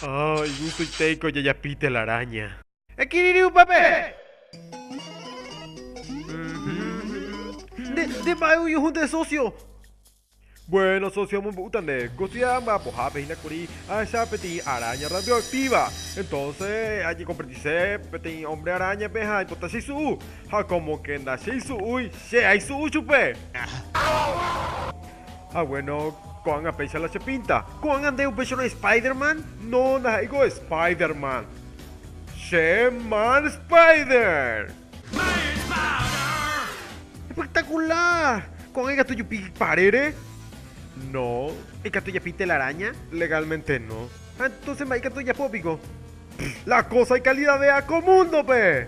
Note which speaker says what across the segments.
Speaker 1: Oh, igusuitéi ko jajapi telaraña. Ekirirĩ upépe! Nde, nde mba'e oñohõnte sósio. Buéno sósio amombe'úta nde. Kosida mba'apohápe hína kuri ahecha peteĩ aráña radioaktíva. Entónse ajekomprendise peteĩ ómbre aráñape ha aipota cheisu'u. Ha kómoke ndacheysu'úi, che aisu'u chupe! Ha bueno, ko'ág̃a péicha la chepinta. Ko'ág̃a nde upéicharõ Spider-Man? No, ndaha'éiko Spider-Man. Che Man Spider! Espectacular! Ko'ág̃a ikatu ejupi parére? No. Ikatu ejapi telaraña? Legalmente no. Ha entonces mba'e ikatu ejapo piko? Pff, la cosa ikalidavéa ko múndope!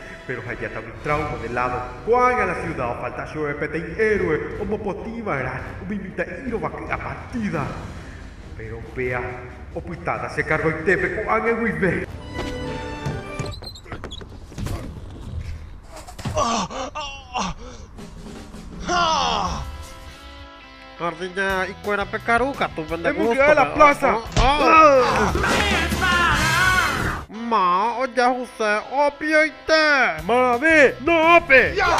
Speaker 1: Péro ha ijatágui tráuma de ládo. Ko'ág̃a la siuda ofalta chupe peteĩ héroe omopotĩ va'erã umi mitã'i rovaky'a partida. Péro upéa opytáta che kargoitépe ko'ág̃a guive. Jardiña ikuéra pekaru katu pende gusto. Emboky'a la pláza. Ma ojahuse opioite. Mave no'õpe. Ya.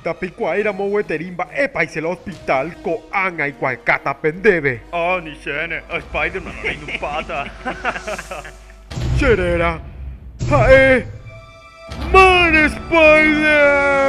Speaker 2: Ndapikuaáiramo
Speaker 1: gueteri mba'épa isy la hospital, ko'ág̃a aikuaekáta pe ndéve. Ah, ni chéne,
Speaker 2: a Spiderman reinupáta. Che
Speaker 1: réra ha'e Man Spider-Man.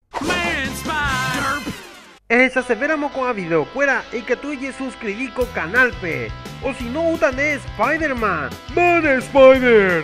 Speaker 1: Ehechasevéramo ko'ã videokuéra ikatu ejesuskrivi ko kanálpe. Osino outa ne Spider-Man. Mana Spider!